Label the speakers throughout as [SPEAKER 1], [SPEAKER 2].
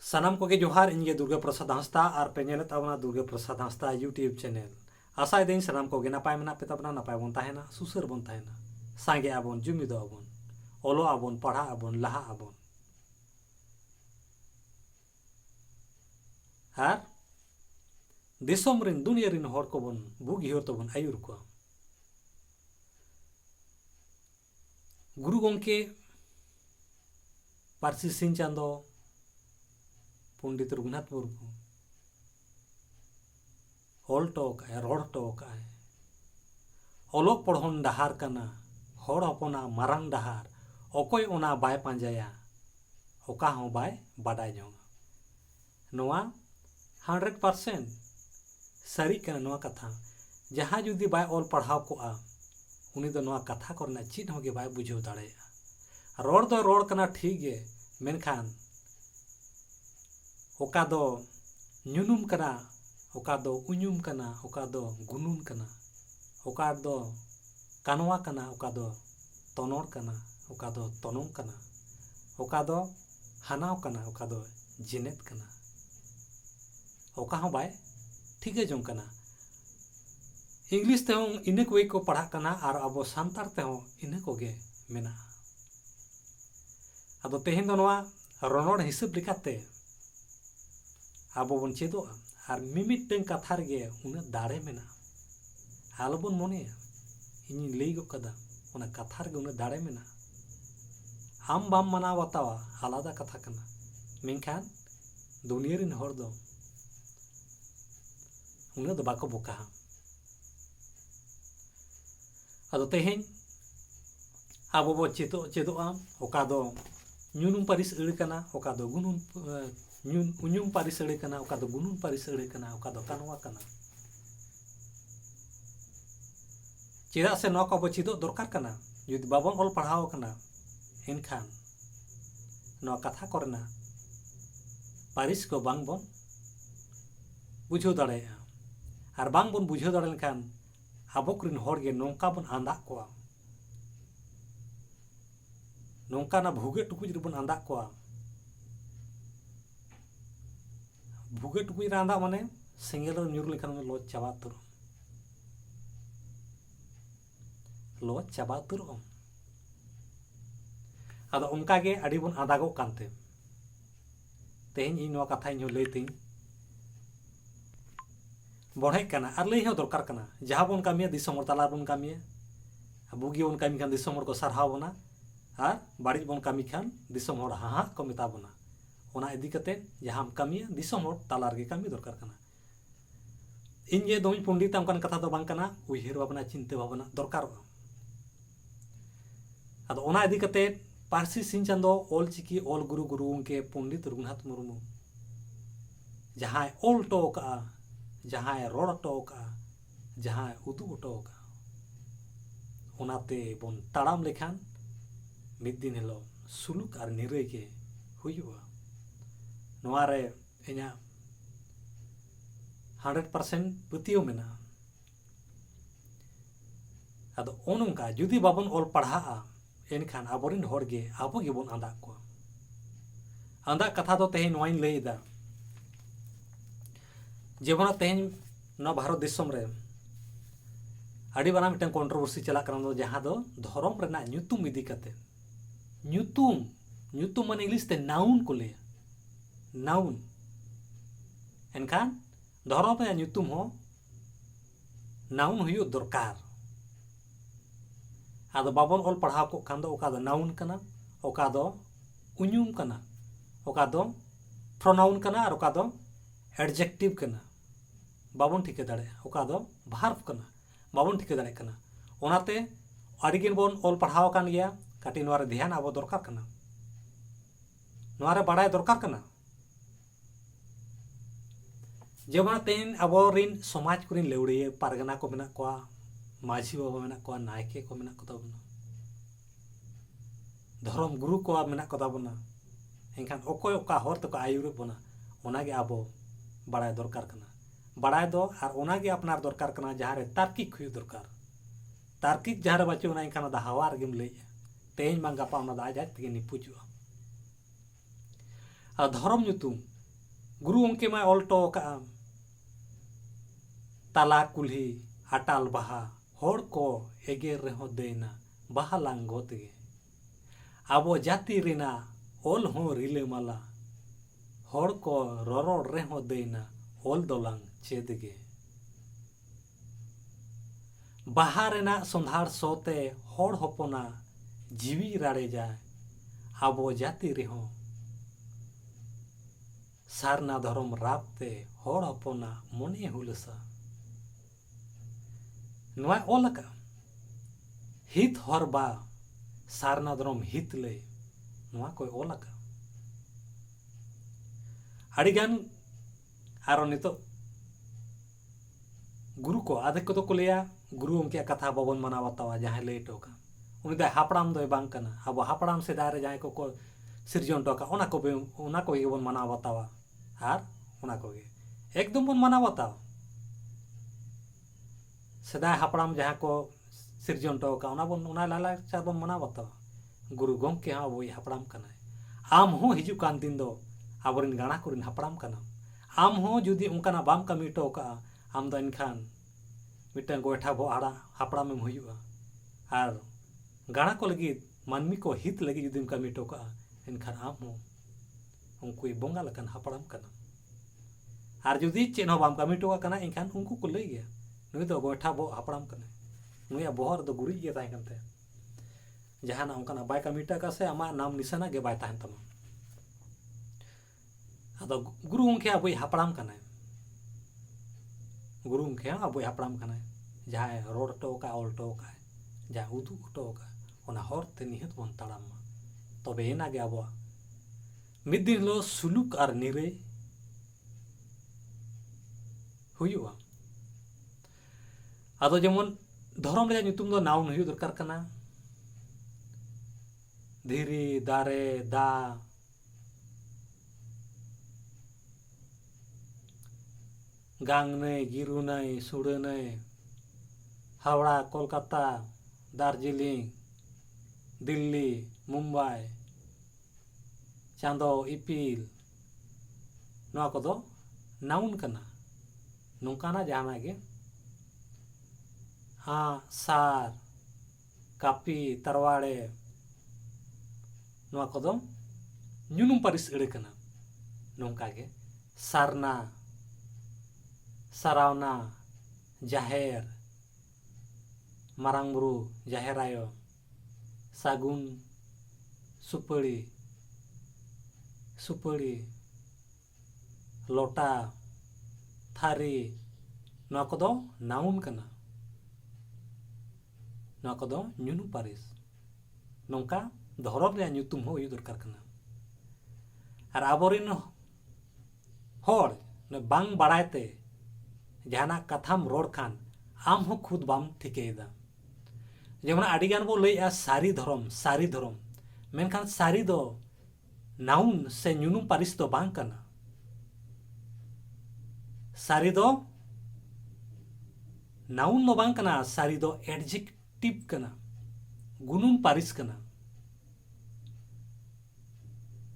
[SPEAKER 1] ᱥᱟᱱᱟᱢ ᱠᱚᱜᱮ ᱡᱚᱦᱟᱨ ᱤᱧ ᱜᱮ ᱫᱩᱨᱜᱟ ᱯᱨᱚᱥᱟᱫᱽ ᱦᱟᱸᱥᱫᱟ ᱟᱨ ᱯᱮ ᱧᱮᱞᱮᱫ ᱛᱟᱵᱚᱱᱟ ᱫᱩᱨᱜᱟ ᱯᱨᱚᱥᱟᱫᱽ ᱦᱟᱸᱥᱫᱟ ᱭᱩᱴᱤᱭᱩᱵᱽ ᱪᱮᱱᱮᱞ ᱟᱥᱟᱭᱮᱫᱟᱹᱧ ᱥᱟᱱᱟᱢ ᱠᱚᱜᱮ ᱱᱟᱯᱟᱭ ᱢᱮᱱᱟᱜ ᱯᱮ ᱛᱟᱵᱚᱱᱟ ᱱᱟᱯᱟᱭ ᱵᱚᱱ ᱛᱟᱦᱮᱱᱟ ᱥᱩᱥᱟᱹᱨ ᱵᱚᱱ ᱛᱟᱦᱮᱱᱟ ᱥᱟᱸᱜᱮ ᱟᱵᱚᱱ ᱡᱩᱢᱤᱫᱚᱜ ᱟᱵᱚᱱ ᱚᱞᱚᱜ ᱟᱵᱚᱱ ᱯᱟᱲᱦᱟᱜ ᱟᱵᱚᱱ ᱞᱟᱦᱟᱜ ᱟᱵᱚᱱ ᱟᱨ ᱫᱤᱥᱚᱢ ᱨᱤᱱ ᱫᱩᱱᱤᱭᱟᱹ ᱨᱤᱱ ᱦᱚᱲ ᱠᱚᱵᱚᱱ ᱵᱩᱜᱤ ᱦᱚᱨ ᱛᱮᱵᱚᱱ ᱟᱹᱭᱩᱨ ᱠᱚᱣᱟ ᱜᱩᱨᱩ ᱜᱚᱢᱠᱮ ᱯᱟᱹᱨᱥᱤ ᱥᱤᱧ ᱪᱟᱸᱫᱚ ᱯᱚᱱᱰᱤᱛ ᱨᱚᱜᱷᱩᱱᱟᱛᱷ ᱢᱩᱨᱢᱩ ᱚᱞ ᱦᱚᱴᱚ ᱟᱠᱟᱫᱼᱟᱭ ᱨᱚᱲ ᱦᱚᱴᱚ ᱟᱠᱟᱫᱼᱟᱭ ᱚᱞᱚᱜ ᱯᱚᱲᱦᱚᱱ ᱰᱟᱦᱟᱨ ᱠᱟᱱᱟ ᱦᱚᱲ ᱦᱚᱯᱚᱱᱟᱜ ᱢᱟᱨᱟᱝ ᱰᱟᱦᱟᱨ ᱚᱠᱚᱭ ᱚᱱᱟ ᱵᱟᱭ ᱯᱟᱸᱡᱟᱭᱟ ᱚᱠᱟ ᱦᱚᱸ ᱵᱟᱭ ᱵᱟᱰᱟᱭ ᱡᱚᱝᱟ ᱱᱚᱣᱟ ᱦᱟᱱᱰᱨᱮᱰ ᱯᱟᱨᱥᱮᱱᱴ ᱥᱟᱹᱨᱤᱜ ᱠᱟᱱᱟ ᱱᱚᱣᱟ ᱠᱟᱛᱷᱟ ᱡᱟᱦᱟᱸᱭ ᱡᱩᱫᱤ ᱵᱟᱭ ᱚᱞ ᱯᱟᱲᱦᱟᱣ ᱠᱚᱜᱼᱟ ᱩᱱᱤ ᱫᱚ ᱱᱚᱣᱟ ᱠᱟᱛᱷᱟ ᱠᱚᱨᱮᱱᱟᱜ ᱪᱮᱫ ᱦᱚᱸ ᱜᱮ ᱵᱟᱭ ᱵᱩᱡᱷᱟᱹᱣ ᱫᱟᱲᱮᱭᱟᱜᱼᱟ ᱨᱚᱲ ᱫᱚᱭ ᱨᱚᱲ ᱠᱟᱱᱟ ᱴᱷᱤᱠ ᱜᱮ ᱢᱮᱱᱠᱷᱟᱱ ᱚᱠᱟ ᱫᱚ ᱧᱩᱱᱩᱢ ᱠᱟᱱᱟ ᱚᱠᱟ ᱫᱚ ᱩᱧᱩᱢ ᱠᱟᱱᱟ ᱚᱠᱟ ᱫᱚ ᱜᱩᱱᱩᱢ ᱠᱟᱱᱟ ᱚᱠᱟ ᱫᱚ ᱠᱟᱱᱣᱟ ᱠᱟᱱᱟ ᱚᱠᱟ ᱫᱚ ᱛᱚᱱᱚᱲ ᱠᱟᱱᱟ ᱚᱠᱟ ᱫᱚ ᱛᱚᱱᱚᱝ ᱠᱟᱱᱟ ᱚᱠᱟ ᱫᱚ ᱦᱟᱱᱟᱣ ᱠᱟᱱᱟ ᱚᱠᱟ ᱫᱚ ᱡᱮᱱᱮᱛ ᱠᱟᱱᱟ ᱚᱠᱟ ᱦᱚᱸ ᱵᱟᱭ ᱴᱷᱤᱠᱟᱹ ᱡᱚᱝ ᱠᱟᱱᱟ ᱤᱝᱞᱤᱥ ᱛᱮᱦᱚᱸ ᱤᱱᱟᱹ ᱠᱚᱜᱮ ᱠᱚ ᱯᱟᱲᱦᱟᱜ ᱠᱟᱱᱟ ᱟᱨ ᱟᱵᱚ ᱥᱟᱱᱛᱟᱲ ᱛᱮᱦᱚᱸ ᱤᱱᱟᱹ ᱠᱚᱜᱮ ᱢᱮᱱᱟᱜᱼᱟ ᱟᱫᱚ ᱛᱮᱦᱮᱧ ᱫᱚ ᱱᱚᱣᱟ ᱨᱚᱱᱚᱲ ᱦᱤᱥᱟᱹᱵ ᱞᱮᱠᱟᱛᱮ ᱟᱵᱚ ᱵᱚᱱ ᱪᱮᱫᱚᱜᱼᱟ ᱟᱨ ᱢᱤᱢᱤᱫᱴᱟᱝ ᱠᱟᱛᱷᱟ ᱨᱮᱜᱮ ᱩᱱᱟᱹᱜ ᱫᱟᱲᱮ ᱢᱮᱱᱟᱜᱼᱟ ᱟᱞᱚᱵᱚᱱ ᱢᱚᱱᱮᱭᱟ ᱤᱧᱤᱧ ᱞᱟᱹᱭ ᱜᱚᱫ ᱠᱟᱫᱟ ᱚᱱᱟ ᱠᱟᱛᱷᱟ ᱨᱮᱜᱮ ᱩᱱᱟᱹᱜ ᱫᱟᱲᱮ ᱢᱮᱱᱟᱜᱼᱟ ᱟᱢ ᱵᱟᱢ ᱢᱟᱱᱟᱣ ᱵᱟᱛᱟᱣᱟ ᱟᱞᱟᱫᱟ ᱠᱟᱛᱷᱟ ᱠᱟᱱᱟ ᱢᱮᱱᱠᱷᱟᱱ ᱫᱩᱱᱤᱭᱟᱹ ᱨᱮᱱ ᱦᱚᱲ ᱫᱚ ᱩᱱᱟᱹᱜ ᱫᱚ ᱵᱟᱠᱚ ᱵᱚᱠᱟᱦᱟ ᱟᱫᱚ ᱛᱮᱦᱮᱧ ᱟᱵᱚ ᱵᱚ ᱪᱮᱫᱚᱜ ᱪᱮᱫᱚᱜᱼᱟ ᱚᱠᱟ ᱫᱚ ᱧᱩᱱᱩᱢ ᱯᱟᱹᱨᱤᱥ ᱟᱹᱲᱟᱹ ᱠᱟᱱᱟ ᱚᱠᱟ ᱫᱚ ᱜᱩᱱᱩᱢ ᱧᱩᱱ ᱩᱧᱩᱢ ᱯᱟᱹᱨᱤᱥ ᱟᱹᱲᱟᱹ ᱠᱟᱱᱟ ᱚᱠᱟ ᱫᱚ ᱜᱩᱱᱩᱢ ᱯᱟᱹᱨᱤᱥ ᱟᱹᱲᱟᱹ ᱠᱟᱱᱟ ᱚᱠᱟ ᱫᱚ ᱠᱟᱱᱣᱟ ᱠᱟᱱᱟ ᱪᱮᱫᱟᱜ ᱥᱮ ᱱᱚᱣᱟ ᱠᱚ ᱟᱵᱚ ᱪᱮᱫᱚᱜ ᱫᱚᱨᱠᱟᱨ ᱠᱟᱱᱟ ᱡᱩᱫᱤ ᱵᱟᱵᱚᱱ ᱚᱞ ᱯᱟᱲᱦᱟᱣ ᱟᱠᱟᱱᱟ ᱮᱱᱠᱷᱟᱱ ᱱᱚᱣᱟ ᱠᱟᱛᱷᱟ ᱠᱚᱨᱮᱱᱟᱜ ᱯᱟᱹᱨᱤᱥ ᱠᱚ ᱵᱟᱝ ᱵᱚᱱ ᱵᱩᱡᱷᱟᱹᱣ ᱫᱟᱲᱮᱭᱟᱜᱼᱟ ᱟᱨ ᱵᱟᱝ ᱵᱚᱱ ᱵᱩᱡᱷᱟᱹᱣ ᱫᱟᱲᱮ ᱞᱮᱱᱠᱷᱟᱱ ᱟᱵᱚ ᱠᱚᱨᱮᱱ ᱦᱚᱲ ᱜᱮ ᱱᱚᱝᱠᱟ ᱵᱚᱱ ᱟᱸᱫᱟᱜ ᱠᱚᱣᱟ ᱱᱚᱝᱠᱟᱱᱟᱜ ᱵᱷᱩᱜᱟᱹᱜ ᱴᱩᱠᱩᱡ ᱨᱮᱵᱚᱱ ᱟᱸᱫᱟᱜ ᱠᱚᱣᱟ ᱵᱷᱩᱜᱟᱹᱜ ᱴᱩᱠᱩᱡ ᱨᱮ ᱟᱸᱫᱟᱜ ᱢᱟᱱᱮ ᱥᱮᱸᱜᱮᱞ ᱨᱮ ᱧᱩᱨ ᱞᱮᱠᱷᱟᱱ ᱩᱱᱤ ᱞᱚᱡᱽ ᱪᱟᱵᱟ ᱩᱛᱟᱹᱨᱚᱜᱼᱟ ᱞᱚᱡᱽ ᱪᱟᱵᱟ ᱩᱛᱟᱹᱨᱚᱜᱼᱟ ᱟᱫᱚ ᱚᱱᱠᱟ ᱜᱮ ᱟᱹᱰᱤ ᱵᱚᱱ ᱟᱸᱫᱟᱜᱚᱜ ᱠᱟᱱᱛᱮ ᱛᱮᱦᱮᱧ ᱤᱧ ᱱᱚᱣᱟ ᱠᱟᱛᱷᱟ ᱤᱧᱦᱚᱸ ᱞᱟᱹᱭ ᱛᱤᱧ ᱵᱚᱲᱦᱮᱜ ᱠᱟᱱᱟ ᱟᱨ ᱞᱟᱹᱭ ᱦᱚᱸ ᱫᱚᱨᱠᱟᱨ ᱠᱟᱱᱟ ᱡᱟᱦᱟᱸ ᱵᱚᱱ ᱠᱟᱹᱢᱤᱭᱟ ᱫᱤᱥᱚᱢ ᱦᱚᱲ ᱛᱟᱞᱟ ᱨᱮᱵᱚᱱ ᱠᱟᱹᱢᱤᱭᱟ ᱵᱩᱜᱤ ᱵᱚᱱ ᱠᱟᱹᱢᱤ ᱠᱷᱟᱱ ᱫᱤᱥᱚᱢ ᱦᱚᱲ ᱠᱚ ᱥᱟᱨᱦᱟᱣ ᱵᱚᱱᱟ ᱟᱨ ᱵᱟᱹᱲᱤᱡ ᱵᱚᱱ ᱠᱟᱹᱢᱤ ᱠᱷᱟᱱ ᱫᱤᱥᱚᱢ ᱦᱚᱲ ᱦᱟᱦᱟᱜ ᱠᱚ ᱢᱮᱛᱟ ᱵᱚᱱᱟ ᱚᱱᱟ ᱤᱫᱤ ᱠᱟᱛᱮ ᱡᱟᱦᱟᱸᱢ ᱠᱟᱹᱢᱤᱭᱟ ᱫᱤᱥᱚᱢ ᱦᱚᱲ ᱛᱟᱞᱟ ᱨᱮᱜᱮ ᱠᱟᱹᱢᱤ ᱫᱚᱨᱠᱟᱨ ᱠᱟᱱᱟ ᱤᱧ ᱜᱮ ᱫᱚᱢᱮᱧ ᱯᱚᱱᱰᱤᱛᱟ ᱚᱱᱠᱟᱱ ᱠᱟᱛᱷᱟ ᱫᱚ ᱵᱟᱝ ᱠᱟᱱᱟ ᱩᱭᱦᱟᱹᱨ ᱵᱷᱟᱵᱽᱱᱟ ᱪᱤᱱᱛᱟᱹ ᱵᱷᱟᱵᱽᱱᱟ ᱫᱚᱨᱠᱟᱨᱚᱜᱼᱟ ᱟᱫᱚ ᱚᱱᱟ ᱤᱫᱤ ᱠᱟᱛᱮ ᱯᱟᱹᱨᱥᱤ ᱥᱤᱧ ᱪᱟᱸᱫᱚ ᱚᱞ ᱪᱤᱠᱤ ᱚᱞ ᱜᱩᱨᱩ ᱜᱩᱨᱩ ᱜᱚᱢᱠᱮ ᱯᱚᱱᱰᱤᱛ ᱨᱚᱜᱷᱩᱱᱟᱛᱷ ᱢᱩᱨᱢᱩ ᱡᱟᱦᱟᱸᱭ ᱚᱞ ᱦᱚᱴᱚ ᱟᱠᱟᱫᱼᱟ ᱡᱟᱦᱟᱸᱭ ᱨᱚᱲ ᱦᱚᱴᱚ ᱟᱠᱟᱫᱼᱟ ᱡᱟᱦᱟᱸᱭ ᱩᱫᱩᱜ ᱦᱚᱴᱚ ᱟᱠᱟᱫᱼᱟ ᱚᱱᱟᱛᱮ ᱵᱚᱱ ᱛᱟᱲᱟᱢ ᱞᱮᱠᱷᱟᱱ ᱢᱤᱫ ᱫᱤᱱ ᱦᱤᱞᱳᱜ ᱥᱩᱞᱩᱠ ᱟᱨ ᱱᱤᱨᱟᱹᱭ ᱜᱮ ᱦᱩᱭᱩᱜᱼᱟ ᱱᱚᱣᱟ ᱨᱮ ᱤᱧᱟᱹᱜ ᱦᱟᱱᱰᱨᱮᱰ ᱯᱟᱨᱥᱮᱱᱴ ᱯᱟᱹᱛᱭᱟᱹᱣ ᱢᱮᱱᱟᱜᱼᱟ ᱟᱫᱚ ᱚᱱ ᱚᱱᱠᱟ ᱡᱩᱫᱤ ᱵᱟᱵᱚᱱ ᱚᱞ ᱯᱟᱲᱦᱟᱜᱼᱟ ᱮᱱᱠᱷᱟᱱ ᱟᱵᱚᱨᱮᱱ ᱦᱚᱲ ᱜᱮ ᱟᱵᱚ ᱜᱮᱵᱚᱱ ᱟᱸᱫᱟᱜ ᱠᱚᱣᱟ ᱟᱸᱫᱟᱜ ᱠᱟᱛᱷᱟ ᱫᱚ ᱛᱮᱦᱮᱧ ᱱᱚᱣᱟᱧ ᱞᱟᱹᱭᱮᱫᱟ ᱡᱮᱢᱚᱱ ᱛᱮᱦᱮᱧ ᱱᱚᱣᱟ ᱵᱷᱟᱨᱚᱛ ᱫᱤᱥᱚᱢ ᱨᱮ ᱟᱹᱰᱤ ᱢᱟᱨᱟᱝ ᱢᱤᱫᱴᱟᱝ ᱠᱚᱱᱴᱨᱳᱵᱷᱟᱨᱥᱤ ᱪᱟᱞᱟᱜ ᱠᱟᱱᱟ ᱡᱟᱦᱟᱸ ᱫᱚ ᱫᱷᱚᱨᱚᱢ ᱨᱮᱱᱟᱜ ᱧᱩᱛᱩᱢ ᱤᱫᱤ ᱠᱟᱛᱮᱫ ᱧᱩᱛᱩᱢ ᱧᱩᱛᱩᱢ ᱢᱟᱱᱮ ᱤᱝᱞᱤᱥ ᱛᱮ ᱱᱟᱣᱩᱱ ᱠᱚ ᱞᱟᱹᱭᱟ ᱱᱟᱣᱩᱱ ᱮᱱᱠᱷᱟᱱ ᱫᱷᱚᱨᱚᱢ ᱨᱮᱭᱟᱜ ᱧᱩᱛᱩᱢ ᱦᱚᱸ ᱱᱟᱣᱩᱱ ᱦᱩᱭᱩᱜ ᱫᱚᱨᱠᱟᱨ ᱟᱫᱚ ᱵᱟᱵᱚᱱ ᱚᱞ ᱯᱟᱲᱦᱟᱣ ᱠᱚᱜ ᱠᱷᱟᱱ ᱫᱚ ᱚᱠᱟ ᱫᱚ ᱱᱟᱣᱩᱱ ᱠᱟᱱᱟ ᱚᱠᱟ ᱫᱚ ᱩᱧᱩᱢ ᱠᱟᱱᱟ ᱚᱠᱟ ᱫᱚ ᱯᱨᱚᱱᱟᱣᱩᱱ ᱠᱟᱱᱟ ᱟᱨ ᱚᱠᱟ ᱫᱚ ᱮᱰᱡᱮᱠᱴᱤᱵᱷ ᱠᱟᱱᱟ ᱵᱟᱵᱚᱱ ᱴᱷᱤᱠᱟᱹ ᱫᱟᱲᱮᱭᱟᱜᱼᱟ ᱚᱠᱟ ᱫᱚ ᱵᱷᱟᱨᱵ ᱠᱟᱱᱟ ᱵᱟᱵᱚᱱ ᱴᱷᱤᱠᱟᱹ ᱫᱟᱲᱮᱭᱟᱜ ᱠᱟᱱᱟ ᱚᱱᱟᱛᱮ ᱟᱹᱰᱤ ᱜᱮ ᱵᱚᱱ ᱚᱞ ᱯᱟᱲᱦᱟᱣ ᱟᱠᱟᱱ ᱜᱮᱭᱟ ᱠᱟᱹᱴᱤᱡ ᱱᱚᱣᱟ ᱨᱮ ᱫᱷᱮᱭᱟᱱ ᱟᱵᱚ ᱫᱚᱨᱠᱟᱨ ᱠᱟᱱᱟ ᱱᱚᱣᱟ ᱨᱮ ᱵᱟᱲᱟᱭ ᱫᱚᱨᱠᱟᱨ ᱠᱟᱱᱟ ᱡᱮᱢᱚᱱ ᱛᱮᱦᱮᱧ ᱟᱵᱚ ᱨᱤᱱ ᱥᱚᱢᱟᱡᱽ ᱠᱚᱨᱮᱱ ᱞᱟᱹᱣᱲᱤᱭᱟᱹ ᱯᱟᱨᱜᱟᱱᱟ ᱠᱚ ᱢᱮᱱᱟᱜ ᱠᱚᱣᱟ ᱢᱟᱹᱡᱷᱤ ᱵᱟᱵᱟ ᱢᱮᱱᱟᱜ ᱠᱚᱣᱟ ᱱᱟᱭᱠᱮ ᱠᱚ ᱢᱮᱱᱟᱜ ᱠᱚ ᱛᱟᱵᱚᱱᱟ ᱫᱷᱚᱨᱚᱢ ᱜᱩᱨᱩ ᱠᱚ ᱢᱮᱱᱟᱜ ᱠᱚ ᱛᱟᱵᱚᱱᱟ ᱮᱱᱠᱷᱟᱱ ᱚᱠᱚᱭ ᱚᱠᱟ ᱦᱚᱨ ᱛᱮᱠᱚ ᱟᱹᱭᱩᱨᱮᱫ ᱵᱚᱱᱟ ᱚᱱᱟᱜᱮ ᱟᱵᱚ ᱵᱟᱲᱟᱭ ᱫᱚᱨᱠᱟᱨ ᱠᱟᱱᱟ ᱵᱟᱲᱟᱭ ᱫᱚ ᱟᱨ ᱚᱱᱟᱜᱮ ᱟᱯᱱᱟᱨ ᱫᱚᱨᱠᱟᱨ ᱠᱟᱱᱟ ᱡᱟᱦᱟᱸ ᱨᱮ ᱛᱟᱨᱠᱤᱠ ᱦᱩᱭᱩᱜ ᱫᱚᱨᱠᱟᱨ ᱛᱟᱨᱠᱤᱠ ᱡᱟᱦᱟᱸ ᱨᱮ ᱵᱟᱹᱪᱩᱜ ᱟᱱᱟ ᱮᱱᱠᱷᱟᱱ ᱚᱱᱟ ᱫᱚ ᱦᱟᱣᱟ ᱨᱮᱜᱮᱢ ᱞᱟᱹᱭᱮᱜᱼᱟ ᱛᱮᱦᱮᱧ ᱵᱟᱝ ᱜᱟᱯᱟ ᱚᱱᱟ ᱫᱚ ᱟᱡ ᱟᱡ ᱛᱮᱜᱮ ᱱᱤᱯᱩᱡᱚᱜᱼᱟ ᱟᱨ ᱫᱷᱚᱨᱚᱢ ᱧᱩᱛᱩᱢ ᱜᱩᱨᱩ ᱜᱚᱢᱠᱮ ᱢᱟᱭ ᱚᱞ ᱦᱚᱴᱚ ᱟᱠᱟᱫᱼᱟ ᱛᱟᱞᱟ ᱠᱩᱞᱦᱤ ᱟᱴᱟᱞ ᱵᱟᱦᱟ ᱦᱚᱲ ᱠᱚ ᱮᱜᱮᱨ ᱨᱮᱦᱚᱸ ᱫᱟᱹᱭᱱᱟ ᱵᱟᱦᱟ ᱞᱟᱝ ᱜᱚᱫ ᱜᱮ ᱟᱵᱚ ᱡᱟᱹᱛᱤ ᱨᱮᱱᱟᱜ ᱚᱞ ᱦᱚᱸ ᱨᱤᱞᱟᱹᱢᱟᱞᱟ᱾ ᱦᱚᱲ ᱠᱚ ᱨᱚᱨᱚᱲ ᱨᱮᱦᱚᱸ ᱫᱟᱹᱭᱱᱟ ᱚᱞ ᱫᱚᱞᱟᱝ ᱪᱮᱫ ᱜᱮ᱾ ᱵᱟᱦᱟ ᱨᱮᱱᱟᱜ ᱥᱚᱸᱫᱷᱟᱲ ᱥᱚ ᱛᱮ ᱦᱚᱲ ᱦᱚᱯᱚᱱᱟᱜ ᱡᱤᱣᱤᱭ ᱨᱟᱲᱮᱡᱟᱭ᱾ ᱟᱵᱚ ᱡᱟᱹᱛᱤ ᱨᱮᱦᱚᱸ ᱥᱟᱨᱱᱟ ᱫᱷᱚᱨᱚᱢ ᱨᱟᱯ ᱛᱮ ᱦᱚᱲ ᱦᱚᱯᱚᱱᱟᱜ ᱢᱚᱱᱮᱭ ᱦᱩᱞᱟᱹᱥᱟ᱾ ᱱᱚᱣᱟᱭ ᱚᱞ ᱟᱠᱟᱫᱼᱟ ᱦᱤᱛ ᱦᱚᱨ ᱵᱟ ᱥᱟᱨᱱᱟ ᱫᱷᱚᱨᱚᱢ ᱦᱤᱛ ᱞᱟᱹᱭ ᱱᱚᱣᱟ ᱠᱚᱭ ᱚᱞ ᱟᱠᱟᱫᱼᱟ ᱟᱹᱰᱤᱜᱟᱱ ᱟᱨᱚ ᱱᱤᱛᱚᱜ ᱜᱩᱨᱩ ᱠᱚ ᱟᱫᱷᱮᱠ ᱠᱚᱫᱚ ᱠᱚ ᱞᱟᱹᱭᱟ ᱜᱩᱨᱩ ᱜᱚᱢᱠᱮᱭᱟᱜ ᱠᱟᱛᱷᱟ ᱵᱟᱵᱚᱱ ᱢᱟᱱᱟᱣ ᱵᱟᱛᱟᱣᱟ ᱡᱟᱦᱟᱸᱭ ᱞᱟᱹᱭ ᱦᱚᱴᱚ ᱠᱟᱜ ᱩᱱᱤ ᱫᱚ ᱦᱟᱯᱲᱟᱢ ᱫᱚᱭ ᱵᱟᱝ ᱠᱟᱱᱟ ᱟᱵᱚ ᱦᱟᱯᱲᱟᱢ ᱥᱮᱫᱟᱭ ᱨᱮ ᱡᱟᱦᱟᱸᱭ ᱠᱚᱠᱚ ᱥᱤᱨᱡᱚᱱ ᱦᱚᱴᱚ ᱠᱟᱜ ᱚᱱᱟ ᱠᱚᱜᱮ ᱚᱱᱟ ᱠᱚᱜᱮ ᱵᱚᱱ ᱢᱟᱱᱟᱣ ᱵᱟᱛᱟᱣᱟ ᱟᱨ ᱚᱱᱟ ᱠᱚᱜᱮ ᱮᱠᱫᱚᱢ ᱵᱚᱱ ᱢᱟᱱᱟᱣ ᱵᱟᱛᱟᱣ ᱥᱮᱫᱟᱭ ᱦᱟᱯᱲᱟᱢ ᱡᱟᱦᱟᱸ ᱠᱚ ᱥᱤᱨᱡᱚᱱ ᱦᱚᱴᱚ ᱟᱠᱟᱫ ᱚᱱᱟ ᱵᱚᱱ ᱚᱱᱟ ᱞᱟᱭᱼᱞᱟᱠᱪᱟᱨ ᱵᱚᱱ ᱢᱟᱱᱟᱣ ᱵᱟᱛᱟᱣᱟ ᱜᱩᱨᱩ ᱜᱚᱢᱠᱮ ᱦᱚᱸ ᱟᱵᱚᱭᱤᱡ ᱦᱟᱯᱲᱟᱢ ᱠᱟᱱᱟᱭ ᱟᱢ ᱦᱚᱸ ᱦᱤᱡᱩᱜ ᱠᱟᱱ ᱫᱤᱱ ᱫᱚ ᱟᱵᱚᱨᱮᱱ ᱜᱟᱬᱟ ᱠᱚᱨᱮᱱ ᱦᱟᱯᱲᱟᱢ ᱠᱟᱱᱟᱢ ᱟᱢ ᱦᱚᱸ ᱡᱩᱫᱤ ᱚᱱᱠᱟᱱᱟᱜ ᱵᱟᱢ ᱠᱟᱹᱢᱤ ᱦᱚᱴᱚ ᱠᱟᱜᱼᱟ ᱟᱢ ᱫᱚ ᱮᱱᱠᱷᱟᱱ ᱢᱤᱫᱴᱟᱝ ᱜᱚᱭᱴᱷᱟ ᱵᱚᱦᱚᱜ ᱦᱟᱲᱟ ᱦᱟᱯᱲᱟᱢᱮᱢ ᱦᱩᱭᱩᱜᱼᱟ ᱟᱨ ᱜᱟᱬᱟ ᱠᱚ ᱞᱟᱹᱜᱤᱫ ᱢᱟᱹᱱᱢᱤ ᱠᱚ ᱦᱤᱛ ᱞᱟᱹᱜᱤᱫ ᱡᱩᱫᱤᱢ ᱠᱟᱹᱢᱤ ᱦᱚᱴᱚ ᱠᱟᱜᱼᱟ ᱮᱱᱠᱷᱟᱱ ᱟᱢ ᱦᱚᱸ ᱩᱱᱠᱩᱭ ᱵᱚᱸᱜᱟ ᱞᱮᱠᱟᱱ ᱦᱟᱯᱲᱟᱢ ᱠᱟᱱᱟ ᱟᱨ ᱡᱩᱫᱤ ᱪᱮᱫ ᱦᱚᱸ ᱵᱟᱢ ᱠᱟᱹᱢᱤ ᱦᱚᱴᱚ ᱠᱟᱜ ᱠᱟᱱᱟ ᱮᱱᱠᱷᱟᱱ ᱩᱱᱠᱩ ᱠᱚ ᱞᱟᱹᱭ ᱜᱮᱭᱟ ᱱᱩᱭ ᱫᱚ ᱜᱚᱭᱴᱷᱟ ᱵᱚᱦᱚᱜ ᱦᱟᱯᱲᱟᱢ ᱠᱟᱱᱟᱭ ᱱᱩᱭᱟᱜ ᱵᱚᱦᱚᱜ ᱨᱮᱫᱚ ᱜᱩᱨᱤᱡ ᱜᱮ ᱛᱟᱦᱮᱸ ᱠᱟᱱ ᱛᱟᱭᱟ ᱡᱟᱦᱟᱱᱟᱜ ᱚᱱᱠᱟᱱᱟᱜ ᱵᱟᱭ ᱠᱟᱹᱢᱤ ᱦᱚᱴᱚ ᱠᱟᱜᱼᱟ ᱥᱮ ᱟᱢᱟᱜ ᱱᱟᱢ ᱱᱤᱥᱟᱱᱟᱜ ᱜᱮ ᱵᱟᱭ ᱛᱟᱦᱮᱱ ᱛᱟᱢᱟ ᱟᱫᱚ ᱜᱩᱨᱩ ᱜᱚᱢᱠᱮ ᱟᱵᱚᱭᱤᱡ ᱦᱟᱯᱲᱟᱢ ᱠᱟᱱᱟᱭ ᱜᱩᱨᱩ ᱜᱚᱢᱠᱮ ᱦᱚᱸ ᱟᱵᱚᱭᱤᱡ ᱦᱟᱯᱲᱟᱢ ᱠᱟᱱᱟᱭ ᱡᱟᱦᱟᱸᱭ ᱨᱚᱲ ᱦᱚᱴᱚ ᱠᱟᱜᱼᱟ ᱚᱞ ᱦᱚᱴᱚ ᱠᱟᱜᱼᱟᱭ ᱡᱟᱦᱟᱸ ᱩᱫᱩᱜ ᱦᱚᱴᱚ ᱟᱠᱟᱫ ᱚᱱᱟ ᱦᱚᱨ ᱛᱮ ᱱᱤᱦᱟᱹᱛ ᱵᱚᱱ ᱛᱟᱲᱟᱢ ᱢᱟ ᱛᱚᱵᱮ ᱮᱱᱟ ᱜᱮ ᱟᱵᱚᱣᱟᱜ ᱢᱤᱫ ᱫᱤᱱ ᱦᱤᱞᱳᱜ ᱥᱩᱞᱩᱠ ᱟᱨ ᱱᱤᱨᱟᱹᱭ ᱦᱩᱭᱩᱜᱼᱟ ᱟᱫᱚ ᱡᱮᱢᱚᱱ ᱫᱷᱚᱨᱚᱢ ᱨᱮᱭᱟᱜ ᱧᱩᱛᱩᱢ ᱫᱚ ᱱᱟᱣᱩᱱ ᱦᱩᱭᱩᱜ ᱫᱚᱨᱠᱟᱨ ᱠᱟᱱᱟ ᱫᱷᱤᱨᱤ ᱫᱟᱨᱮ ᱫᱟ ᱜᱟᱝ ᱱᱟᱹᱭ ᱜᱤᱨᱩ ᱱᱟᱹᱭ ᱥᱩᱲᱟᱹ ᱱᱟᱹᱭ ᱦᱟᱣᱲᱟ ᱠᱚᱞᱠᱟᱛᱟ ᱫᱟᱨᱡᱤᱞᱤᱝ ᱫᱤᱞᱞᱤ ᱢᱩᱢᱵᱟᱭ ᱪᱟᱸᱫᱚ ᱤᱯᱤᱞ ᱱᱚᱣᱟ ᱠᱚᱫᱚ ᱱᱟᱣᱩᱱ ᱠᱟᱱᱟ ᱱᱚᱝᱠᱟᱱᱟᱜ ᱡᱟᱦᱟᱱᱟᱜ ᱜᱮ ᱟᱜ ᱥᱟᱨ ᱠᱟᱹᱯᱤ ᱛᱟᱨᱣᱟᱲᱮ ᱱᱚᱣᱟ ᱠᱚᱫᱚ ᱧᱩᱱᱩᱢ ᱯᱟᱹᱨᱤᱥ ᱟᱹᱲᱟᱹ ᱠᱟᱱᱟ ᱱᱚᱝᱠᱟ ᱜᱮ ᱥᱟᱨᱱᱟ ᱥᱟᱨᱟᱣᱱᱟ ᱡᱟᱦᱮᱨ ᱢᱟᱨᱟᱝ ᱵᱩᱨᱩ ᱡᱟᱦᱮᱨ ᱟᱭᱳ ᱥᱟᱹᱜᱩᱱ ᱥᱩᱯᱟᱹᱲᱤ ᱥᱩᱯᱟᱹᱲᱤ ᱞᱚᱴᱟ ᱛᱷᱟᱹᱨᱤ ᱱᱚᱣᱟ ᱠᱚᱫᱚ ᱱᱟᱣᱩᱱ ᱠᱟᱱᱟ ᱱᱚᱣᱟ ᱠᱚᱫᱚ ᱧᱩᱱᱩ ᱯᱟᱹᱨᱤᱥ ᱱᱚᱝᱠᱟ ᱫᱷᱚᱨᱚᱢ ᱨᱮᱭᱟᱜ ᱧᱩᱛᱩᱢ ᱦᱚᱸ ᱦᱩᱭᱩᱜ ᱫᱚᱨᱠᱟᱨ ᱠᱟᱱᱟ ᱟᱨ ᱟᱵᱚᱨᱮᱱ ᱦᱚᱲ ᱵᱟᱝ ᱵᱟᱲᱟᱭ ᱛᱮ ᱡᱟᱦᱟᱱᱟᱜ ᱠᱟᱛᱷᱟᱢ ᱨᱚᱲ ᱠᱷᱟᱱ ᱟᱢ ᱦᱚᱸ ᱠᱷᱩᱫ ᱵᱟᱢ ᱴᱷᱤᱠᱟᱹᱭᱮᱫᱟ ᱡᱮᱢᱚᱱ ᱟᱹᱰᱤ ᱜᱟᱱ ᱵᱚᱱ ᱞᱟᱹᱭᱮᱫᱼᱟ ᱥᱟᱹᱨᱤ ᱫᱷᱚᱨᱚᱢ ᱥᱟᱹᱨᱤ ᱫᱷᱚᱨᱚᱢ ᱢᱮᱱᱠᱷᱟᱱ ᱥᱟᱹᱨᱤ ᱫᱚ ᱱᱟᱣᱩᱱ ᱥᱮ ᱧᱩᱱᱩᱢ ᱯᱟᱹᱨᱤᱥ ᱫᱚ ᱵᱟᱝ ᱠᱟᱱᱟ ᱥᱟᱹᱨᱤ ᱫᱚ ᱱᱟᱣᱩᱱ ᱫᱚ ᱵᱟᱝ ᱠᱟᱱᱟ ᱥᱟᱹᱨᱤ ᱫᱚ ᱮᱰᱡᱮᱠᱴᱤᱵᱽ ᱠᱟᱱᱟ ᱜᱩᱱᱩᱱ ᱯᱟᱹᱨᱤᱥ ᱠᱟᱱᱟ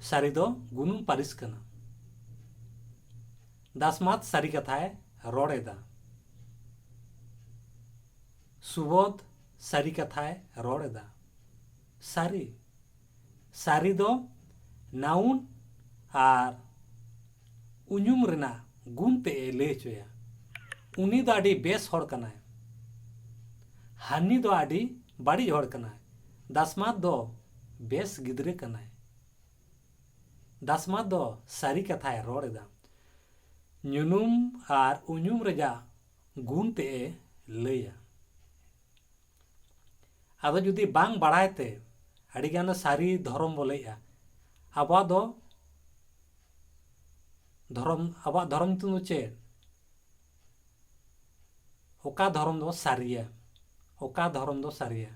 [SPEAKER 1] ᱥᱟᱹᱨᱤ ᱫᱚ ᱜᱩᱱᱩᱱ ᱯᱟᱹᱨᱤᱥ ᱠᱟᱱᱟ ᱫᱟᱥᱢᱟᱛ ᱥᱟᱹᱨᱤ ᱠᱟᱛᱷᱟᱭ ᱨᱚᱲ ᱮᱫᱟ ᱥᱩᱵᱚᱫᱷ ᱥᱟᱹᱨᱤ ᱠᱟᱛᱷᱟᱭ ᱨᱚᱲ ᱮᱫᱟ ᱥᱟᱹᱨᱤ ᱥᱟᱨᱤ ᱫᱚ ᱱᱟᱣᱩᱱ ᱟᱨ ᱩᱧᱩᱢ ᱨᱮᱱᱟᱜ ᱜᱩᱱ ᱛᱮ ᱮ ᱞᱟᱹᱭ ᱦᱚᱪᱚᱭᱟ ᱩᱱᱤ ᱫᱚ ᱟᱹᱰᱤ ᱵᱮᱥ ᱦᱚᱲ ᱠᱟᱱᱟᱭ ᱦᱟᱹᱱᱤ ᱫᱚ ᱟᱹᱰᱤ ᱵᱟᱹᱲᱤᱡ ᱦᱚᱲ ᱠᱟᱱᱟᱭ ᱫᱟᱥᱢᱟᱛ ᱫᱚ ᱵᱮᱥ ᱜᱤᱫᱽᱨᱟᱹ ᱠᱟᱱᱟᱭ ᱫᱟᱥᱢᱟᱛ ᱫᱚ ᱥᱟᱹᱨᱤ ᱠᱟᱛᱷᱟᱭ ᱨᱚᱲ ᱮᱫᱟ ᱧᱩᱱᱩᱢ ᱟᱨ ᱩᱧᱩᱢ ᱨᱮᱭᱟᱜ ᱜᱩᱱ ᱛᱮ ᱮ ᱞᱟᱹᱭᱟ ᱟᱫᱚ ᱡᱩᱫᱤ ᱵᱟᱝ ᱵᱟᱲᱟᱭ ᱛᱮ ᱟᱹᱰᱤ ᱜᱟᱱ ᱥᱟᱹᱨᱤ ᱫᱷᱚᱨᱚᱢ ᱵᱚ ᱞᱟᱹᱭᱮᱜᱼᱟ ᱟᱵᱚᱣᱟᱜ ᱫᱚ ᱫᱷᱚᱨᱚᱢ ᱟᱵᱚᱣᱟᱜ ᱫᱷᱚᱨᱚᱢ ᱧᱩᱛᱩᱢ ᱫᱚ ᱪᱮᱫ ᱚᱠᱟ ᱫᱷᱚᱨᱚᱢ ᱫᱚ ᱥᱟᱹᱨᱤᱭᱟ ᱚᱠᱟ ᱫᱷᱚᱨᱚᱢ ᱫᱚ ᱥᱟᱹᱨᱤᱭᱟ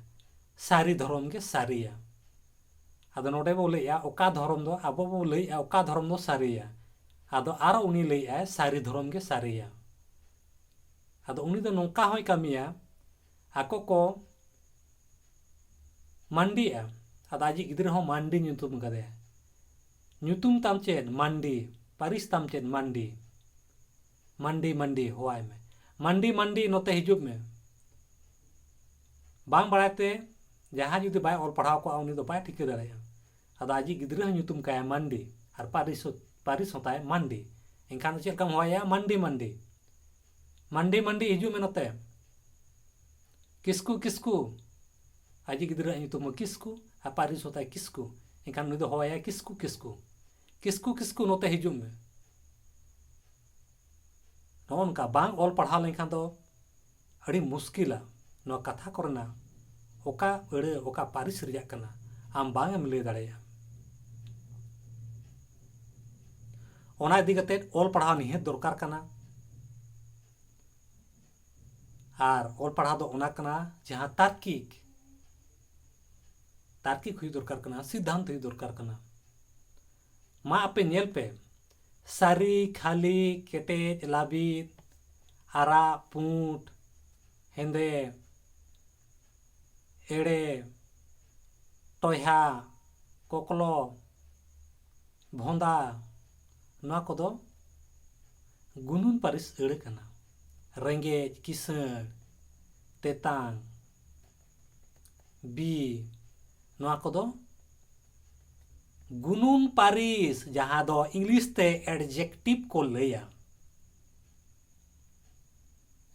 [SPEAKER 1] ᱥᱟᱹᱨᱤ ᱫᱷᱚᱨᱚᱢ ᱜᱮ ᱥᱟᱹᱨᱤᱭᱟ ᱟᱫᱚ ᱱᱚᱰᱮ ᱵᱚ ᱞᱟᱹᱭᱮᱜᱼᱟ ᱚᱠᱟ ᱫᱷᱚᱨᱚᱢ ᱫᱚ ᱟᱵᱚ ᱵᱚ ᱞᱟᱹᱭᱮᱜᱼᱟ ᱚᱠᱟ ᱫᱷᱚᱨᱚᱢ ᱫᱚ ᱥᱟᱹᱨᱤᱭᱟ ᱟᱫᱚ ᱟᱨᱚ ᱩᱱᱤ ᱞᱟᱹᱭᱮᱜᱼᱟᱭ ᱥᱟᱹᱨᱤ ᱫᱷᱚᱨᱚᱢ ᱜᱮ ᱥᱟᱹᱨᱤᱭᱟ ᱟᱫᱚ ᱩᱱᱤ ᱫᱚ ᱱᱚᱝᱠᱟ ᱦᱚᱸᱭ ᱠᱟᱹᱢᱤᱭᱟ ᱟᱠᱚ ᱠᱚ ᱢᱟᱱᱰᱤᱜᱼᱟ ᱟᱫᱚ ᱟᱡᱤᱡ ᱜᱤᱫᱽᱨᱟᱹ ᱦᱚᱸ ᱢᱟᱱᱰᱤ ᱧᱩᱛᱩᱢ ᱟᱠᱟᱫᱮᱭᱟ ᱧᱩᱛᱩᱢ ᱛᱟᱢ ᱪᱮᱫ ᱢᱟᱱᱰᱤ ᱯᱟᱹᱨᱤᱥ ᱛᱟᱢ ᱪᱮᱫ ᱢᱟᱱᱰᱤ ᱢᱟᱱᱰᱤ ᱢᱟᱱᱰᱤ ᱦᱚᱦᱚᱣᱟᱭ ᱢᱮ ᱢᱟᱱᱰᱤ ᱢᱟᱱᱰᱤ ᱱᱚᱛᱮ ᱦᱤᱡᱩᱜ ᱢᱮ ᱵᱟᱝ ᱵᱟᱲᱟᱭ ᱛᱮ ᱡᱟᱦᱟᱸ ᱡᱩᱫᱤ ᱵᱟᱭ ᱚᱞ ᱯᱟᱲᱦᱟᱣ ᱠᱚᱜᱼᱟ ᱩᱱᱤ ᱫᱚ ᱵᱟᱭ ᱴᱷᱤᱠᱟᱹ ᱫᱟᱲᱮᱭᱟᱜᱼᱟ ᱟᱫᱚ ᱟᱡᱤᱡ ᱜᱤᱫᱽᱨᱟᱹ ᱦᱚᱸ ᱧᱩᱛᱩᱢ ᱠᱟᱭᱟ ᱢᱟᱱᱰᱤ ᱟᱨ ᱯᱟᱹᱨᱤᱥ ᱯᱟᱹᱨᱤᱥ ᱦᱚᱸ ᱛᱟᱭ ᱢᱟᱱᱰᱤ ᱮᱱᱠᱷᱟᱱ ᱫᱚ ᱪᱮᱫ ᱞᱮᱠᱟᱢ ᱦᱚᱦᱚᱭᱟ ᱢᱟᱱᱰᱤ ᱢᱟᱱᱰᱤ ᱢᱟᱱᱰᱤ ᱢᱟᱱᱰᱤ ᱦᱤᱡᱩᱜ ᱢᱮ ᱱᱚᱛᱮ ᱠᱤᱥᱠᱩ ᱠᱤᱥᱠᱩ ᱟᱡᱤᱡ ᱜᱤᱫᱽᱨᱟᱹ ᱟᱜ ᱧᱩᱛᱩᱢ ᱦᱚᱸ ᱠᱤᱥᱠᱩ ᱟᱨ ᱯᱟᱹᱨᱤᱥ ᱦᱚᱸ ᱛᱟᱭ ᱠᱤᱥᱠᱩ ᱮᱱᱠᱷᱟᱱ ᱩᱱᱤ ᱫᱚ ᱦᱚᱦᱚᱭᱟ ᱠᱤᱥᱠᱩ ᱠᱤᱥᱠᱩ ᱠᱤᱥᱠᱩ ᱠᱤᱥᱠᱩ ᱱᱚᱛᱮ ᱦᱤᱡᱩᱜ ᱢᱮ ᱱᱚᱜᱼᱚ ᱱᱚᱝᱠᱟ ᱵᱟᱝ ᱚᱞ ᱯᱟᱲᱦᱟᱣ ᱞᱮᱱᱠᱷᱟᱱ ᱫᱚ ᱟᱹᱰᱤ ᱢᱩᱥᱠᱤᱞᱟ ᱱᱚᱣᱟ ᱠᱟᱛᱷᱟ ᱠᱚᱨᱮᱱᱟᱜ ᱚᱠᱟ ᱟᱹᱲᱟᱹ ᱚᱠᱟ ᱯᱟᱹᱨᱤᱥ ᱨᱮᱭᱟᱜ ᱠᱟᱱᱟ ᱟᱢ ᱵᱟᱝ ᱮᱢ ᱞᱟᱹᱭ ᱫᱟᱲᱮᱭᱟᱜᱼᱟ ᱚᱱᱟ ᱤᱫᱤ ᱠᱟᱛᱮ ᱚᱞ ᱯᱟᱲᱦᱟᱣ ᱱᱤᱦᱟᱹᱛ ᱫᱚᱨᱠᱟᱨ ᱠᱟᱱᱟ ᱟᱨ ᱚᱞ ᱯᱟᱲᱦᱟᱣ ᱫᱚ ᱚᱱᱟ ᱠᱟᱱᱟ ᱡᱟᱦᱟᱸ ᱛᱟᱨᱠᱤᱠ ᱛᱟᱨᱠᱤᱠ ᱦᱩᱭᱩᱜ ᱫᱚᱨᱠᱟᱨ ᱠᱟᱱᱟ ᱥᱤᱫᱽᱫᱷᱟᱱᱛ ᱦᱩᱭᱩᱜ ᱫᱚᱨᱠᱟᱨ ᱠᱟᱱᱟ ᱢᱟ ᱟᱯᱮ ᱧᱮᱞ ᱯᱮ ᱥᱟᱹᱨᱤ ᱠᱷᱟᱹᱞᱤ ᱠᱮᱴᱮᱡ ᱞᱟᱹᱵᱤᱫ ᱟᱨᱟᱜ ᱯᱩᱸᱰ ᱦᱮᱸᱫᱮ ᱮᱲᱮ ᱴᱚᱭᱦᱟ ᱠᱚᱠᱞᱚ ᱵᱷᱚᱸᱫᱟ ᱱᱚᱣᱟ ᱠᱚᱫᱚ ᱜᱩᱱᱩᱱ ᱯᱟᱹᱨᱤᱥ ᱟᱹᱲᱟᱹ ᱠᱟᱱᱟ ᱨᱮᱸᱜᱮᱡ ᱠᱤᱥᱟᱹᱬ ᱛᱮᱛᱟᱝ ᱵᱤ ᱱᱚᱣᱟ ᱠᱚᱫᱚ ᱜᱩᱱᱩᱱ ᱯᱟᱹᱨᱤᱥ ᱡᱟᱦᱟᱸ ᱫᱚ ᱤᱝᱞᱤᱥ ᱛᱮ ᱮᱰᱡᱮᱠᱴᱤᱵᱷ ᱠᱚ ᱞᱟᱹᱭᱟ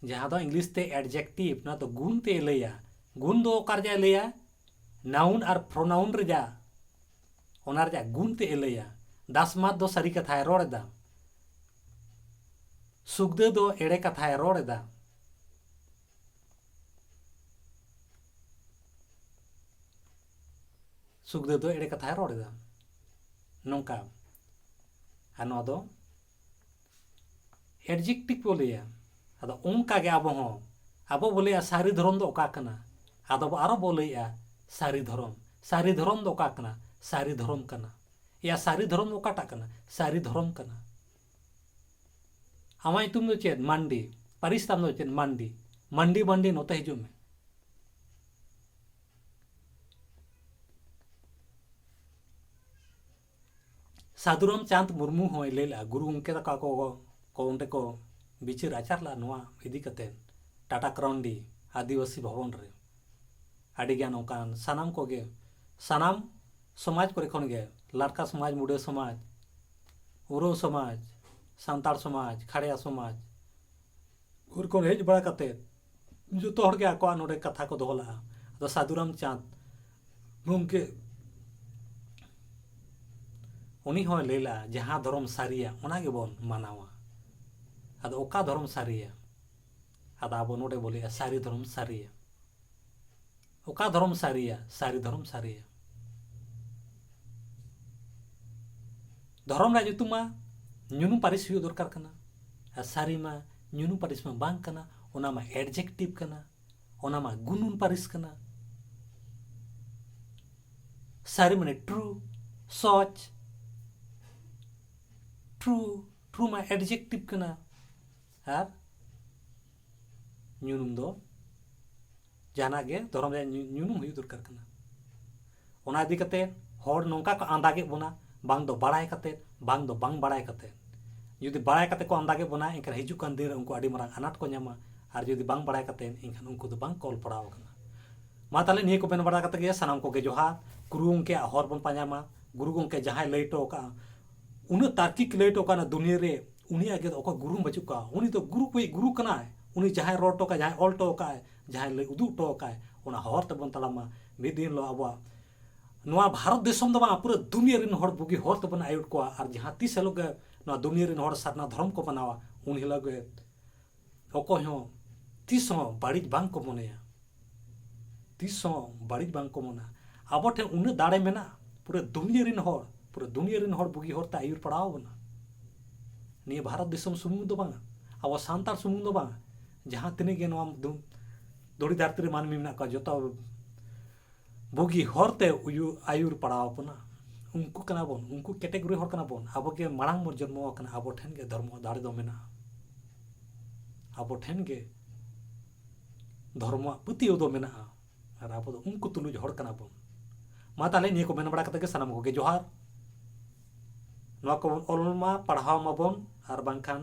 [SPEAKER 1] ᱡᱟᱦᱟᱸ ᱫᱚ ᱤᱝᱞᱤᱥ ᱛᱮ ᱮᱰᱡᱮᱠᱴᱤᱵᱷ ᱱᱚᱣᱟ ᱫᱚ ᱜᱩᱱ ᱛᱮ ᱞᱟᱹᱭᱟ ᱜᱩᱱ ᱫᱚ ᱚᱠᱟ ᱨᱮᱭᱟᱜ ᱞᱟᱹᱭᱟ ᱱᱟᱣᱩᱱ ᱟᱨ ᱯᱨᱚᱱᱟᱣᱩᱱ ᱨᱮᱭᱟᱜ ᱚᱱᱟ ᱨᱮᱭᱟᱜ ᱜᱩᱱ ᱛᱮ ᱞᱟᱹᱭᱟ ᱫᱟᱥᱢᱟᱛ ᱫᱚ ᱥᱟᱹᱨᱤ ᱠᱟᱛᱷᱟᱭ ᱨᱚᱲ ᱮᱫᱟ ᱥᱩᱠᱫᱟᱹ ᱫᱚ ᱮᱲᱮ ᱠᱟᱛᱷᱟᱭ ᱨᱚᱲ ᱮᱫᱟ ᱥᱩᱠᱫᱮᱵᱽ ᱫᱚ ᱮᱲᱮ ᱠᱟᱛᱷᱟᱭ ᱨᱚᱲ ᱮᱫᱟ ᱱᱚᱝᱠᱟ ᱟᱨ ᱱᱚᱣᱟ ᱫᱚ ᱮᱰᱡᱮᱠᱴᱤᱵᱽ ᱠᱚ ᱞᱟᱹᱭᱟ ᱟᱫᱚ ᱚᱱᱠᱟ ᱜᱮ ᱟᱵᱚ ᱦᱚᱸ ᱟᱵᱚ ᱵᱚ ᱞᱟᱹᱭᱟ ᱥᱟᱹᱨᱤ ᱫᱷᱚᱨᱚᱢ ᱫᱚ ᱚᱠᱟ ᱠᱟᱱᱟ ᱟᱫᱚ ᱟᱨᱚ ᱵᱚ ᱞᱟᱹᱭᱟ ᱥᱟᱹᱨᱤ ᱫᱷᱚᱨᱚᱢ ᱥᱟᱹᱨᱤ ᱫᱷᱚᱨᱚᱢ ᱫᱚ ᱚᱠᱟ ᱠᱟᱱᱟ ᱥᱟᱹᱨᱤ ᱫᱷᱚᱨᱚᱢ ᱠᱟᱱᱟ ᱮᱭᱟ ᱥᱟᱹᱨᱤ ᱫᱷᱚᱨᱚᱢ ᱚᱠᱟᱴᱟᱜ ᱠᱟᱱᱟ ᱥᱟᱹᱨᱤ ᱫᱷᱚᱨᱚᱢ ᱠᱟᱱᱟ ᱟᱢᱟᱜ ᱧᱩᱛᱩᱢ ᱫᱚ ᱪᱮᱫ ᱢᱟᱱᱰᱤ ᱯᱟᱹᱨᱤᱥ ᱛᱟᱢ ᱫᱚ ᱪᱮᱫ ᱢᱟᱱᱰᱤ ᱢᱟᱱᱰᱤ ᱢᱟᱱᱰᱤ ᱱᱚᱛᱮ ᱦᱤᱡᱩᱜ ᱢᱮ ᱥᱟᱫᱷᱩᱨᱟᱢ ᱪᱟᱸᱫᱽ ᱢᱩᱨᱢᱩ ᱦᱚᱸᱭ ᱞᱟᱹᱭ ᱞᱮᱫᱼᱟ ᱜᱩᱨᱩ ᱜᱚᱢᱠᱮ ᱛᱟᱠᱚ ᱟᱠᱚ ᱠᱚ ᱚᱸᱰᱮ ᱠᱚ ᱵᱤᱪᱟᱹᱨ ᱟᱪᱟᱨ ᱞᱮᱫᱼᱟ ᱱᱚᱣᱟ ᱤᱫᱤ ᱠᱟᱛᱮ ᱴᱟᱴᱟ ᱠᱨᱟᱣᱩᱱᱰᱤ ᱟᱹᱫᱤᱵᱟᱹᱥᱤ ᱵᱷᱚᱵᱚᱱ ᱨᱮ ᱟᱹᱰᱤᱜᱟᱱ ᱚᱱᱠᱟᱱ ᱥᱟᱱᱟᱢ ᱠᱚᱜᱮ ᱥᱟᱱᱟᱢ ᱥᱚᱢᱟᱡᱽ ᱠᱚᱨᱮ ᱠᱷᱚᱱ ᱜᱮ ᱞᱟᱨᱠᱟ ᱥᱚᱢᱟᱡᱽ ᱢᱩᱰᱟᱹ ᱥᱚᱢᱟᱡᱽ ᱩᱨᱟᱹᱣ ᱥᱚᱢᱟᱡᱽ ᱥᱟᱱᱛᱟᱲ ᱥᱚᱢᱟᱡᱽ ᱠᱷᱟᱲᱭᱟ ᱥᱚᱢᱟᱡᱽ ᱩᱱ ᱠᱷᱚᱱ ᱦᱮᱡ ᱵᱟᱲᱟ ᱠᱟᱛᱮ ᱡᱚᱛᱚ ᱦᱚᱲ ᱜᱮ ᱟᱠᱚᱣᱟᱜ ᱱᱚᱰᱮ ᱠᱟᱛᱷᱟ ᱠᱚ ᱫᱚᱦᱚ ᱞᱟᱜᱼᱟ ᱟᱫᱚ ᱥᱟᱹᱫᱷᱩ ᱨᱟᱢᱪᱟᱸᱫᱽ ᱜᱚᱢᱠᱮ ᱩᱱᱤ ᱦᱚᱸᱭ ᱞᱟᱹᱭ ᱞᱟᱜᱼᱟ ᱡᱟᱦᱟᱸ ᱫᱷᱚᱨᱚᱢ ᱥᱟᱹᱨᱤᱭᱟ ᱚᱱᱟ ᱜᱮᱵᱚᱱ ᱢᱟᱱᱟᱣᱟ ᱟᱫᱚ ᱚᱠᱟ ᱫᱷᱚᱨᱚᱢ ᱥᱟᱹᱨᱤᱭᱟ ᱟᱫᱚ ᱟᱵᱚ ᱱᱚᱰᱮ ᱵᱚ ᱞᱟᱹᱭᱟ ᱥᱟᱹᱨᱤ ᱫᱷᱚᱨᱚᱢ ᱥᱟᱹᱨᱤᱭᱟ ᱚᱠᱟ ᱫᱷᱚᱨᱚᱢ ᱥᱟᱹᱨᱤᱭᱟ ᱥᱟᱹᱨᱤ ᱫᱷᱚᱨᱚᱢ ᱥᱟᱹᱨᱤᱭᱟ ᱫᱷᱚᱨᱚᱢ ᱨᱮᱭᱟᱜ ᱧᱩᱛᱩᱢ ᱢᱟ ᱧᱩᱱᱩ ᱯᱟᱹᱨᱤᱥ ᱦᱩᱭᱩᱜ ᱫᱚᱨᱠᱟᱨ ᱠᱟᱱᱟ ᱟᱨ ᱥᱟᱹᱨᱤ ᱢᱟ ᱧᱩᱱᱩ ᱯᱟᱹᱨᱤᱥ ᱢᱟ ᱵᱟᱝ ᱠᱟᱱᱟ ᱚᱱᱟ ᱢᱟ ᱮᱰᱡᱮᱠᱴᱤᱵᱷ ᱠᱟᱱᱟ ᱚᱱᱟ ᱢᱟ ᱜᱩᱱᱩᱱ ᱯᱟᱹᱨᱤᱥ ᱠᱟᱱᱟ ᱥᱟᱹᱨᱤ ᱢᱟᱱᱮ ᱴᱨᱩ ᱥᱚᱪ ᱴᱨᱩ ᱴᱨᱩ ᱢᱟ ᱮᱰᱡᱮᱠᱴᱤᱵᱷ ᱠᱟᱱᱟ ᱟᱨ ᱧᱩᱱᱩᱢ ᱫᱚ ᱡᱟᱦᱟᱱᱟᱜ ᱜᱮ ᱫᱷᱚᱨᱚᱢ ᱨᱮᱭᱟᱜ ᱧᱩᱱᱩᱢ ᱦᱩᱭᱩᱜ ᱫᱚᱨᱠᱟᱨ ᱠᱟᱱᱟ ᱚᱱᱟ ᱤᱫᱤ ᱠᱟᱛᱮ ᱦᱚᱲ ᱱᱚᱝᱠᱟ ᱠᱚ ᱟᱸᱫᱟᱜᱮᱫ ᱵᱚᱱᱟ ᱵᱟᱝ ᱫᱚ ᱵᱟᱲᱟᱭ ᱠᱟᱛᱮ ᱵᱟᱝ ᱫᱚ ᱵᱟᱝ ᱵᱟᱲᱟᱭ ᱠᱟᱛᱮ ᱡᱩᱫᱤ ᱵᱟᱲᱟᱭ ᱠᱟᱛᱮ ᱠᱚ ᱟᱸᱫᱟᱜᱮᱫ ᱵᱚᱱᱟ ᱮᱱᱠᱷᱟᱱ ᱦᱤᱡᱩᱜ ᱠᱟᱱ ᱫᱤᱱ ᱨᱮ ᱩᱱᱠᱩ ᱟᱹᱰᱤ ᱢᱟᱨᱟᱝ ᱟᱱᱟᱴ ᱠᱚ ᱧᱟᱢᱟ ᱟᱨ ᱡᱩᱫᱤ ᱵᱟᱝ ᱵᱟᱲᱟᱭ ᱠᱟᱛᱮ ᱮᱱᱠᱷᱟᱱ ᱩᱱᱠᱩ ᱫᱚ ᱵᱟᱝ ᱠᱚ ᱚᱞ ᱯᱟᱲᱦᱟᱣ ᱟᱠᱟᱱᱟ ᱢᱟ ᱛᱟᱦᱞᱮ ᱱᱤᱭᱟᱹ ᱠᱚ ᱢᱮᱱ ᱵᱟᱲᱟ ᱠᱟᱛᱮ ᱜᱮ ᱥᱟᱱᱟᱢ ᱠᱚᱜᱮ ᱡᱚᱦᱟᱨ ᱜᱩᱨᱩ ᱜᱚᱢᱠᱮ ᱦᱚᱨ ᱵᱚᱱ ᱯᱟᱸᱡᱟᱭ ᱢᱟ ᱜᱩᱨᱩ ᱜᱚᱢᱠᱮ ᱡᱟᱦᱟᱸᱭ ᱞᱟᱹᱭ ᱦᱚᱴᱚ ᱟᱠᱟᱫᱼᱟ ᱩᱱᱟᱹᱜ ᱛᱟᱨᱠᱤᱠ ᱞᱟᱹᱭ ᱦᱚᱴᱚ ᱟᱠᱟᱫᱼᱟ ᱫᱩᱱᱤᱭᱟᱹ ᱨᱮ ᱩᱱᱤ ᱟᱡ ᱜᱮ ᱚᱠᱚᱭ ᱜᱩᱨᱩ ᱵᱟᱹᱪᱩᱜ ᱠᱚᱣᱟ ᱩᱱᱤ ᱫᱚ ᱜᱩᱨᱩ ᱠᱚᱭᱤᱡ ᱜᱩᱨᱩ ᱠᱟᱱᱟᱭ ᱩᱱᱤ ᱡᱟᱦᱟᱸᱭ ᱨᱚᱲ ᱦᱚᱴᱚ ᱠᱟᱜᱼᱟᱭ ᱡᱟᱦᱟᱸᱭ ᱚᱞ ᱦᱚᱴᱚ ᱠᱟᱜᱼᱟᱭ ᱡᱟᱦᱟᱸᱭ ᱞᱟᱹᱭ ᱩᱫᱩᱜ ᱦᱚᱴᱚ ᱠᱟᱜᱼᱟᱭ ᱚᱱᱟ ᱦᱚᱨ ᱛᱮᱵᱚᱱ ᱛᱟᱲᱟᱢ ᱢᱟ ᱢᱤᱫ ᱫᱤᱱ ᱦᱤᱞᱳᱜ ᱟᱵᱚᱣᱟᱜ ᱱᱚᱣᱟ ᱵᱷᱟᱨᱚᱛ ᱫᱤᱥᱚᱢ ᱫᱚ ᱵᱟᱝ ᱯᱩᱨᱟᱹ ᱫᱩᱱᱤᱭᱟᱹ ᱨᱮᱱ ᱦᱚᱲ ᱵᱩᱜᱤ ᱦᱚᱨ ᱛᱮᱵᱚᱱ ᱟᱹᱭᱩᱨ ᱠᱚᱣᱟ ᱟᱨ ᱡᱟᱦᱟᱸ ᱛᱤᱥ ᱦᱤᱞᱳᱜ ᱜᱮ ᱱᱚᱣᱟ ᱫᱩᱱᱤᱭᱟᱹ ᱨᱮᱱ ᱦᱚᱲ ᱥᱟᱨᱱᱟ ᱫᱷᱚᱨᱚᱢ ᱠᱚ ᱢᱟᱱᱟᱣᱟ ᱩᱱ ᱦᱤᱞᱳᱜ ᱜᱮ ᱚᱠᱚᱭ ᱦᱚᱸ ᱛᱤᱥ ᱦᱚᱸ ᱵᱟᱹᱲᱤᱡ ᱵᱟᱝ ᱠᱚ ᱢᱚᱱᱮᱭᱟ ᱛᱤᱥ ᱦᱚᱸ ᱵᱟᱹᱲᱤᱡ ᱵᱟᱝ ᱠᱚ ᱢᱚᱱᱟ ᱟᱵᱚ ᱴᱷᱮᱱ ᱩᱱᱟᱹᱜ ᱫᱟᱲᱮ ᱢᱮᱱᱟᱜᱼᱟ ᱯᱩᱨᱟᱹ ᱫᱩᱱᱤᱭᱟᱹ ᱨᱮᱱ ᱦᱚᱲ ᱯᱩᱨᱟᱹ ᱫᱩᱱᱤᱭᱟᱹ ᱨᱮᱱ ᱦᱚᱲ ᱵᱩᱜᱤ ᱦᱚᱨᱛᱮ ᱟᱹᱭᱩᱨ ᱯᱟᱲᱟᱣ ᱵᱚᱱᱟ ᱱᱤᱭᱟᱹ ᱵᱷᱟᱨᱚᱛ ᱫᱤᱥᱚᱢ ᱥᱩᱢᱩᱝ ᱫᱚ ᱵᱟᱝᱟ ᱟᱵᱚ ᱥᱟᱱᱛᱟᱲ ᱥᱩᱢᱩᱝ ᱫᱚ ᱵᱟᱝᱟ ᱡᱟᱦᱟᱸ ᱛᱤᱱᱟᱹᱜ ᱜᱮ ᱱᱚᱣᱟ ᱫᱷᱩᱲᱤ ᱫᱷᱟᱹᱨᱛᱤ ᱨᱮ ᱢᱟᱹᱱᱢᱤ ᱢᱮᱱᱟᱜ ᱠᱚᱣᱟ ᱡᱚᱛᱚ ᱵᱩᱜᱤ ᱦᱚᱨ ᱛᱮ ᱩᱭᱩᱨ ᱟᱹᱭᱩᱨ ᱯᱟᱲᱟᱣ ᱟᱵᱚᱱᱟ ᱩᱱᱠᱩ ᱠᱟᱱᱟ ᱵᱚᱱ ᱩᱱᱠᱩ ᱠᱮᱴᱮᱜᱚᱨᱤ ᱦᱚᱲ ᱠᱟᱱᱟ ᱵᱚᱱ ᱟᱵᱚ ᱜᱮ ᱢᱟᱲᱟᱝ ᱵᱚᱱ ᱡᱚᱱᱢᱚ ᱟᱠᱟᱱᱟ ᱟᱵᱚ ᱴᱷᱮᱱ ᱜᱮ ᱫᱷᱚᱨᱢᱚ ᱫᱟᱲᱮ ᱫᱚ ᱢᱮᱱᱟᱜᱼᱟ ᱟᱵᱚ ᱴᱷᱮᱱ ᱜᱮ ᱫᱷᱚᱨᱢᱚᱣᱟᱜ ᱯᱟᱹᱛᱭᱟᱹᱣ ᱫᱚ ᱢᱮᱱᱟᱜᱼᱟ ᱟᱨ ᱟᱵᱚ ᱫᱚ ᱩᱱᱠᱩ ᱛᱩᱞᱩᱡ ᱦᱚᱲ ᱠᱟᱱᱟ ᱵᱚᱱ ᱢᱟ ᱛᱟᱦᱞᱮ ᱱᱤᱭᱟᱹ ᱠᱚ ᱢᱮᱱ ᱵᱟᱲᱟ ᱠᱟᱛᱮ ᱜᱮ ᱥᱟᱱᱟᱢ ᱠᱚᱜᱮ ᱡᱚᱦᱟᱨ ᱱᱚᱣᱟ ᱠᱚᱵᱚᱱ ᱚᱞ ᱢᱟ ᱯᱟᱲᱦᱟᱣ ᱢᱟᱵᱚᱱ ᱟᱨ ᱵᱟᱝᱠᱷᱟᱱ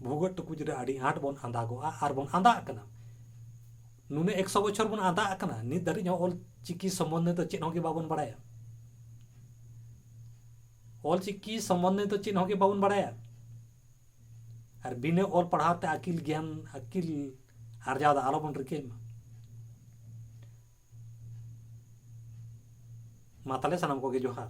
[SPEAKER 1] ᱵᱷᱩᱜᱟᱹᱜ ᱴᱩᱠᱩᱡ ᱨᱮ ᱟᱹᱰᱤ ᱟᱸᱴ ᱵᱚᱱ ᱟᱸᱫᱟᱜᱚᱜᱼᱟ ᱟᱨ ᱵᱚᱱ ᱟᱸᱫᱟᱜ ᱠᱟᱱᱟ ᱱᱩᱱᱟᱹᱜ ᱮᱠᱥᱚ ᱵᱚᱪᱷᱚᱨ ᱵᱚᱱ ᱟᱸᱫᱟᱜ ᱟᱠᱟᱱᱟ ᱱᱤᱛ ᱫᱷᱟᱹᱨᱤᱡ ᱦᱚᱸ ᱚᱞ ᱪᱤᱠᱤ ᱥᱚᱢᱵᱚᱱᱫᱷᱮ ᱫᱚ ᱪᱮᱫ ᱦᱚᱸ ᱜᱮ ᱵᱟᱵᱚᱱ ᱵᱟᱲᱟᱭᱟ ᱚᱞ ᱪᱤᱠᱤ ᱥᱚᱢᱵᱚᱱᱫᱷᱮ ᱫᱚ ᱪᱮᱫ ᱦᱚᱸ ᱜᱮ ᱵᱟᱵᱚᱱ ᱵᱟᱲᱟᱭᱟ ᱟᱨ ᱵᱤᱱᱟᱹ ᱚᱞ ᱯᱟᱲᱦᱟᱣ ᱛᱮ ᱟᱹᱠᱤᱞ ᱜᱮᱭᱟᱱ ᱟᱹᱠᱤᱞ ᱟᱨᱡᱟᱣ ᱫᱚ ᱟᱞᱚᱵᱚᱱ ᱨᱤᱠᱟᱹᱭ ᱢᱟ ᱢᱟ ᱛᱟᱦᱞᱮ ᱥᱟᱱᱟᱢ ᱠᱚᱜᱮ ᱡᱚᱦᱟᱨ